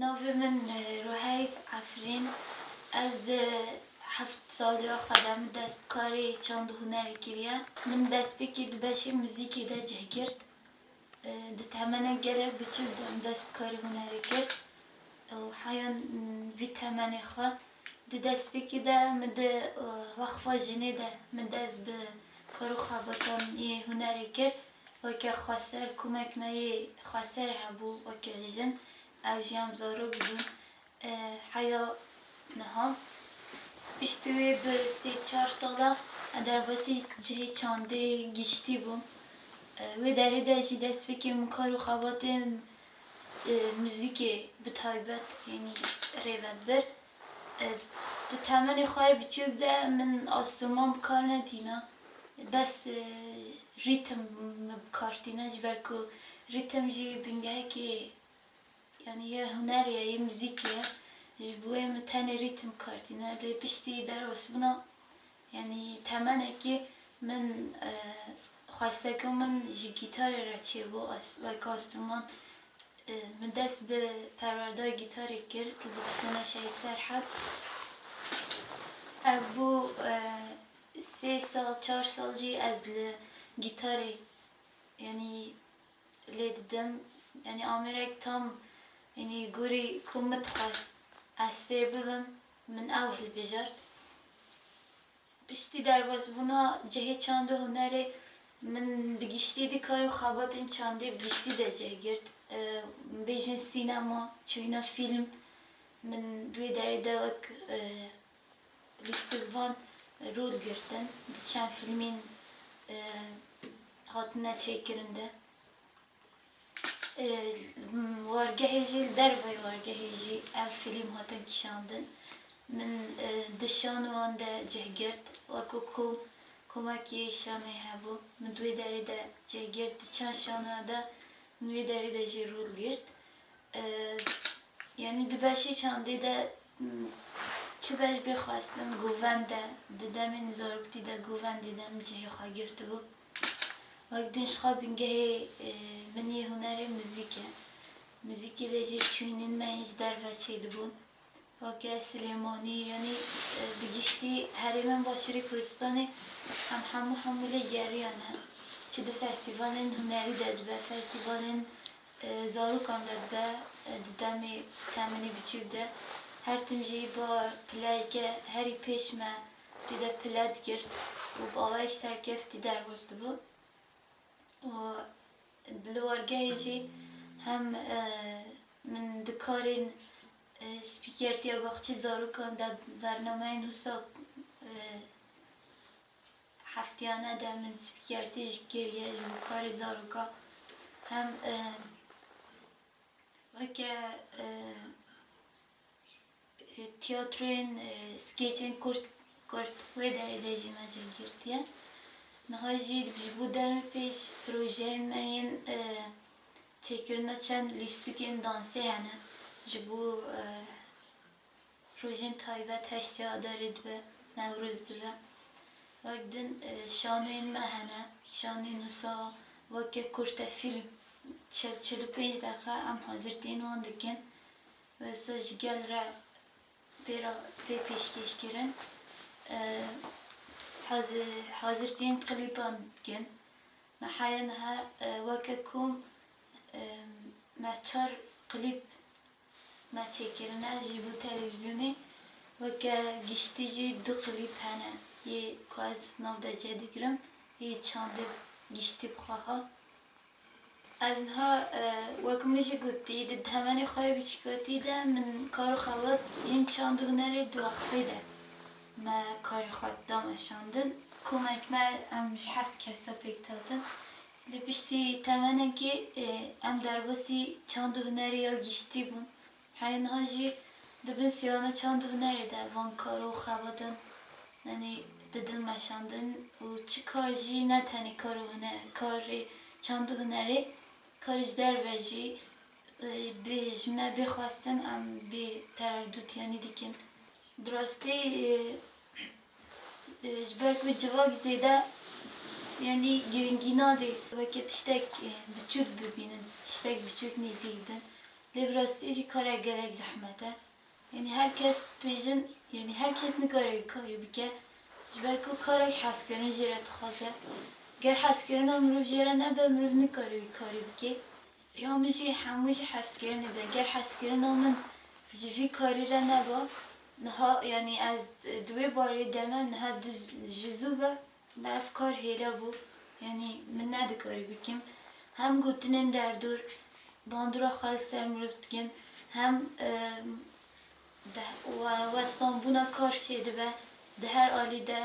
Navê min Ruheyf Efrîn. Ez di heft saliya xwe de min dest bi karê çand û hunerê kiriye. Min destpêkî di beşê muzîkê de cih girt. Di temenek gelek biçûk de min dest bi karê hunerê kir û heya vî temenê xwe Di destpêkê de min di Weqfa Jinê de min dest bi karû xebatên yê hunerê kir. Weke xweser komek me yê xweser hebû weke jin ew jî em zarok bûn heya niha. Piştî wê bi sê çar sala ez derbasî cihê çandê giştî bûm. Wê derê de jî destpêkê min karû xebatên muzîkê bi taybet yanî rêvebir di temenê xwe yê biçûk de min enstrûman bi kar netîna bes rîtim min bi kar tîna ji ber ku rîtim jî bingehekî yanî yê hunerê ye yê muzîkê ye ji bo wê min tenê rîtim bi kar tîna lê piştî derbasbûna Yanî temenekî min xweste ku min ji gîtarê re çêbû Wayka Astuman. Min dest bi perwerda gîtarê kir li Dibistana Şehîd Serhed. Ev bû sê sal çar sal jî ez li gîtarê yanî lê didim. Yanî amêrek tam yanî gorî ku min dixwest ez fêr bibim. Min ew hilbijart. Piştî derbasbûna cihê çand û hunerê min bi giştî dikar û xebatên çandê bi giştî de cih girt. Bêjin sînema, çûyîna fîlm min di wê derê de wek lîstikvan rol girtin di çend fîlmên hatine çêkirin de. Wargehê jî li derveyî wargehê jî ev fîlm hatin kişandin. Min di şan û wan de cih girt. Wek ku komekî şanê hebû min di wê derê de cih girt. Di çend şanoya de min wê derê de jî rol girt. Yanî di beşê çandê de çi beş bê xwestin govend e. Di demên zaroktî de govendê de min cihê xwe girtibû. Wek din jixwe bingehê min yê hunerê muzîk e. Muzîkê de jî çûynîn me hîn ji derve çêdibûn. Weke Silêmanî yanî bi giştî herêmên başûrê Kurdistanê em hemû hemû lê geriyane. Çi di festîvalên hunerî de dibe, festîvalên zarokan de dibe di demê temenî biçûk de. Her tim jî ba pilayeke herî pêş me Tê de pile digirt û bi awayek serkeftî derxwest dibû û di li wargehê jî hem min di karên spîkertiya baxçê zarokan de bernameyên wisa hefteyane de min spîkertî jî kiriye ji bo karê zarokan hem weke Tiyatroyên skêçên kurt kurt wê dereceyê jî me cih girtiye. Niha jî ji bo demê pêş projeyên me yên çêkirina çend lîstikên dansê hene ji bo rojên taybet heştê adarê dibe, newroz dibe. Wek din şanoyên me hene, şanên wisa weke kurte fîlm çil çil û pênc deqe em hazirtiyên wan dikin. Wisa ji gel re pê re pê pêşkêş kirin. Haz hazirtiyên klîpan dikin. Me heya niha weke kom me çar klîp me çêkirine ji bo televîzyonê. Weke giştî jî du klîp hene yê ku ez nav de cih digirim yê çandê giştî bi xwe ha. Ez niha wek min jî gotî di demenê xwe yê biçîkatî de min kar û xebat yên çand û hunerê di wextê de me karê xwe dida meşandin. Komek me em ji heft kes e pêk dihatin. Lê piştî temenekê em derbasî çand û hunerê ya giştî bûn Heye niha jî di bin sêwana çand û hunerê de van karo xebatin yanî di dil meşandin û çi kar jî ne tenê kar û huner karê çand û hunerê karê ji derve jî bê ji me bê xwestin em bê tererdût yanî dikin. Bi rastî ji ber ku civak zêde yanî girîngî nade weke tiştek biçûk bibînin tiştek biçûk nêzîk bin Lê bi rastî jî karek gelek zehmet e. Yanî her kes dibêjin yanî her kes nikare wî karî bike. Ji ber ku karek hezkirin jê re dixwaze. Ger hezkirina mirov jê re nebe mirov nikare wî karî bike. Ya min jî hemû ji hezkirinê be. Ger hezkirina min ji vî karî re neba niha yanî ez di wê barê de me niha ji zû ve Me ev kar hêra bû, yanî min nedikarî bikim. Hem gotinên derdor bandora xwe li ser mirov dikin, hem westanbûna kar çêdibe di her alî de,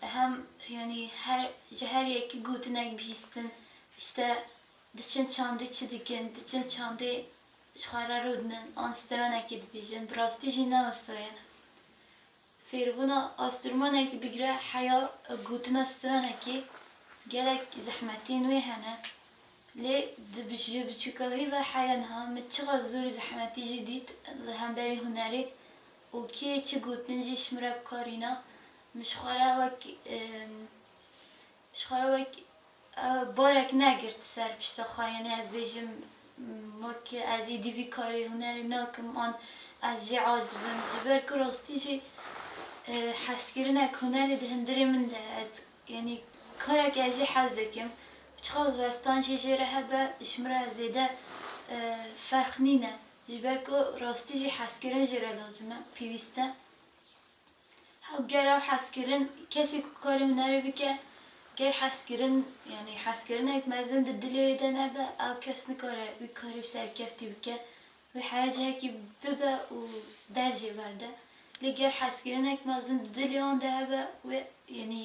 hem yanî her ji her yekî gotinek bihîstin, îşte diçin çandê çi dikin, diçin çandê ji xwe re rûdinin an stranekê dibêjin, bi rastî jî ne wisa ye. Fêrbûna asturmanekî bigire heya gotina stranekê gelek zehmetên wê hene lê di ji biçûkahî ve heya niha min çiqas zor û zehmetî jî dît li hemberî hunerê û kê çi gotin jî ji min re bikarîna min ji xwe re wek Ji xwe re wek barek negirt ser pişta xwe, yanî ez bêjim wek ez êdî vî karê hunerê nakim an ez jê aciz im, ji ber ku rastî jî hezkirinek hunerê di hundirê min de ye, ez yanî kareke ez jê hez dikim, çiqas ji westan jê jê re hebe ji min re zêde ferq nîne, ji ber ku rastî jî hezkirin jê re lazim e, pêwîst e. Ger ew hez kirin, kesê ku karê hunerê bike, ger hez kirin yanî hezkirinek mezin di dilê wê de nebe, ew kes nikare wî karê bi serkeftî bike, wê heye cihekî bibe û dercê berde. Lê ger hezkirinek mezin di dilê wan de hebe, wê yanî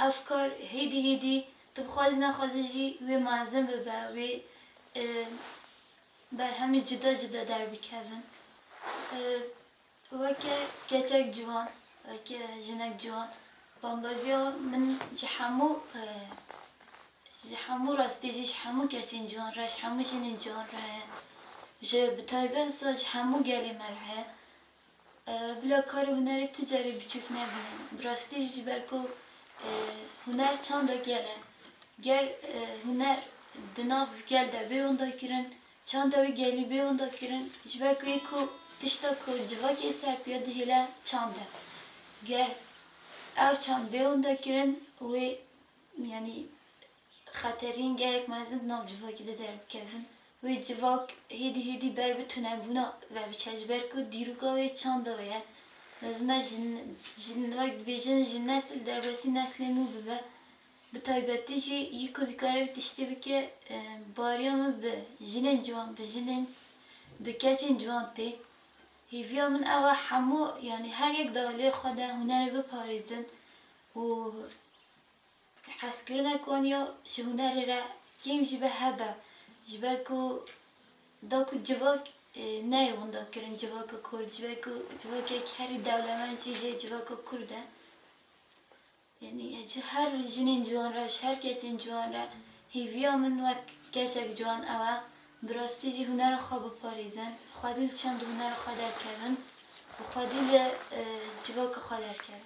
ev kar hêdî hêdî tu bi xwazî nexwazî jî wê mezin bibe, wê berhemên cuda cuda derbikevin. Weke keçek ciwan, weke jinek ciwan bangaziya min ji hemû ji hemû rastî jî ji hemû keçên ciwan re, ji hemû jinên ciwan re heye. Ji bi taybet zû ji hemû gelê me re heye. Bila kar û hunerê tu carê biçûk nebîne. Bi rastî jî ji ber ku huner çanda gel e. Ger huner di nav gel de bê wenda kirin, Çanda wî gelî bê winda kirin ji ber ku yê ku tişta ku civakê li ser piya dihêle çand e. Ger ew çand bê winda kirin wê yanî xeterîn gelek mezin di nav civakê de derbikevin. Wê civak hêdî hêdî ber bi tunebûna ve biçe ji ber ku dîroka wê çanda wê ye. Lazim e ji wek dibêjin ji nesil derbasî neslê nû bibe. Bi taybetî jî yî ku dikare vî tiştî bike bariya min bi jinên ciwan, bi jinên, bi keçên ciwan tê. Hêviya min ew e hemû yanî her yek di aliyê xwe de hunerê biparêzin û hezkirina ku wan ya ji hunerê re kêm jî be hebe ji ber ku da ku civak neyê windakirin civaka kurd ji ber ku civakek herî dewlemend jî jê civaka kurd e. Yanî ji her jinên ciwan re, ji her keçên ciwan re hêviya min wek keçek ciwan ew e bi rastî jî hunera xwe biparêzin, xwedî li çend hunera xwe derkevin û xwedî li civaka xwe derkevin.